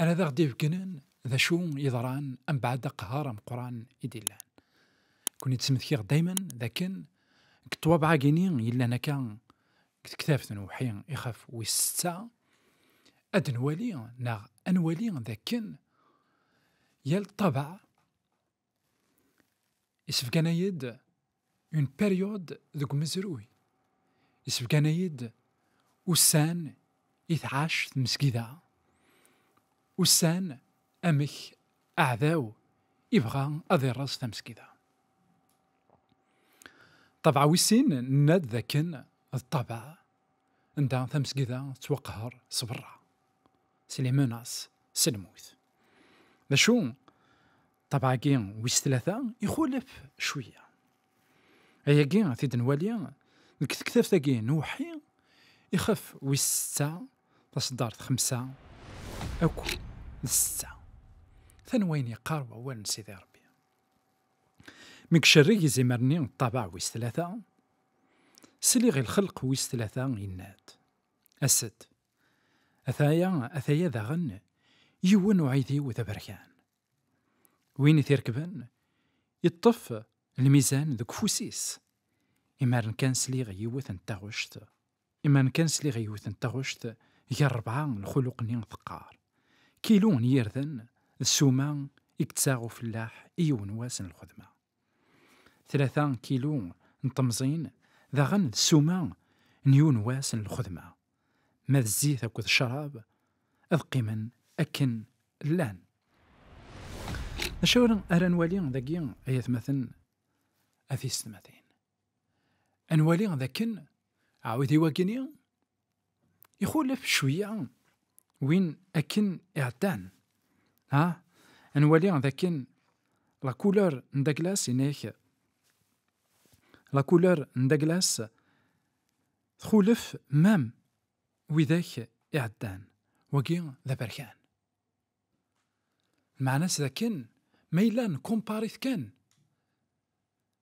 ara ad aɣ-d-ibegnen d acu yeḍran ambaɛd aqehar ameqqran i d-illan. Kuni d-smetkiɣ daymen d akken deg ṭṭwabeɛ-agi-ni yellan akka deg tektabt n uwḥi ixef wis setta, ad d-nwali neɣ ad nwali d akken yal ṭṭabeɛ Isefgan-ayi-d une période deg umezruy. Isefgan-ayi-d ussan i tɛac tmesgida. Ussan amek aɛdaw ibɣa ad ireẓ tamesgida. Ṭṭabeɛ wis sin nenna-d dakken d ṭṭabeɛ anda tamesgida tettwaqehher s berra, s limenas, s lmut. D acu? Ṭṭabeɛ-agi wis tlata ixulef cwiya. Ayagi a t-id-nwali deg tektabt-agi n uweḥḥi ixef wis setta taṣeddart xemsa akk d setta. Tan wayen yeqqar wawal n Sidi Rebbi. Mi icerreg izimer-nni n ṭṭabeɛ wis tlata, sliɣ i lxelq wis tlata yenna-d, As-d! Ataya, ataya daɣen, yiwen uɛidiw d aberkan. Win i t-irekben, iṭṭef lmizan deg ufus-is. Imaren kan sliɣ yiwet n taɣect, imaren kan sliɣ yiwet n taɣect gar rebɛa n lxuluq-nni teqqar, kilu n yirden d ssuma i yettaɣ ufellaḥ i yiwen wass n lxedma. Tlata kilu n temẓin daɣen d ssuma n yiwen wass n lxedma. Ma d zzit akked ccrab ad qqimen akken llan. Acu ara nwali dagi ay atmaten a tiysetmatin? Ad nwali d akken aɛudiw-agi-ni ixulef cwiya win akken iɛeddan. Ha? Ad nwali d akken la couleur n Douglas inek la couleur n Douglas txulef mem widak iɛeddan. Wagi d aberkan. Meɛna-s d akken ma yella nkumpaṛ-it kan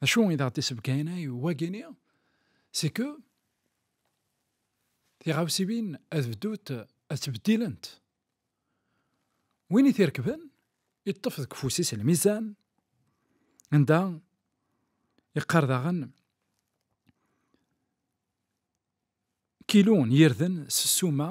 D acu i d aɣ-d-isebgayen ay wagini? C'est que tiɣawsiwin ad bdut ad ttbeddilent. Win i t-irekben, yeṭṭef deg ufus-is lmizan, anda yeqqar daɣen kilu n yirden s ssuma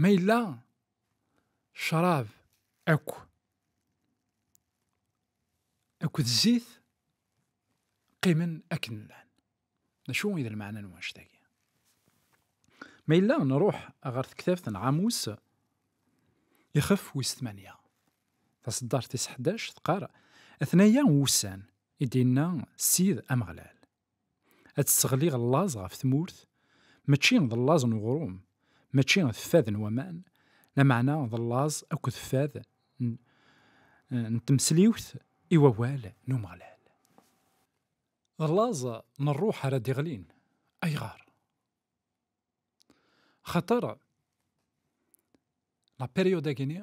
Ma yella ccṛab akk akked zzit qqimen akken llan. D acu i d lmeɛna n wannect-agi? Ma yella nṛuḥ ɣer tektabt n Ɛamus, ixef wis tmanya, taṣeddart tis ḥdac, teqqar, Atnaya wussan, i d-inna Ssid Ameɣlal, Ad tesseɣliɣ llaẓ ɣef tmurt, mačči d llaẓ n uɣrum, mačči d fad n waman, lameɛna d llaẓ akked fad n tmesliwt i wawal n Umeɣlal. D llaẓ n rruḥ ara d-iɣlin. Ayɣer? Axaṭer la période-agi-nni,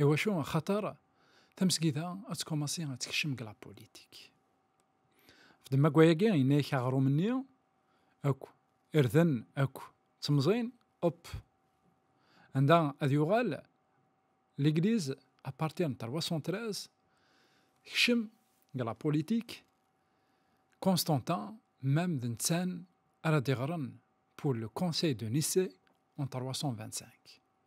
Iwacu? Axaṭer tamesgida ad tkumaṣi ad tekcem deg la politik. Fdem akk ayagi, yenna-ak aɣrum-nni akk, irden akk, ttemẓin, op. Anda ad yuɣal l'église à partir de 313 tekcem deg la politik Constantin même d nettan ara d-iɣren pour le conseil de Nicée en 325.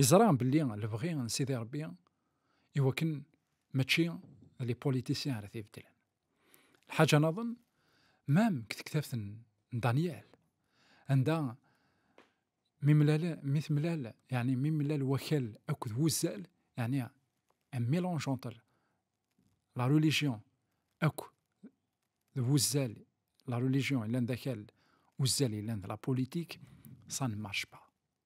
Yeẓra belli lebɣi n Sidi Rebbi i wakken mačči d li politisyen ara t-ibeddlen. Lḥaǧa naḍen, mam deg tektabt n Daniel, anda mi mlal, mi temlal, yani mi mlal wakal akked wuzzal, yani un mélange entre la religion akk d wuzzal, la religion yellan d akal, uzzal yellan d la politique, ça ne marche pas.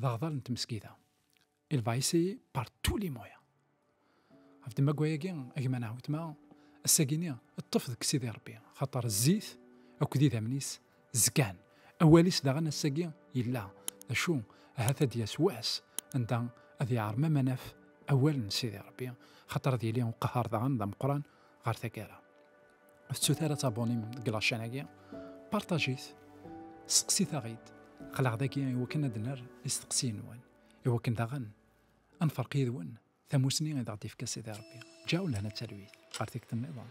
d aɣdar n tmesgida. Il va essayer par tous les moyens. Ɣef demagwa-agi, a gma neɣ wetma, assagi-nni ṭṭef deg Sidi Rebbi, xaṭer zzit akked idammen-is zgan. Awal-is daɣen assagi yella, d acu ahat ad d-yas wass anda ad yeɛreḍ ma ma naf awal n Sidi Rebbi, xaṭer ad yili uqehhar daɣen d ameqqran ɣer taggara. Tettut ara taboni deg lačan-agi, partajit, seqsit-aɣ-id, qleɣ dagi i wakken ad ner isteqsiyen-nwen, i wakken daɣen ad nferq yid-wen tamusni i aɣ-d-ifka Sidi Rebbi. Ǧaw lehna talwit, ɣer tikti-nniḍen.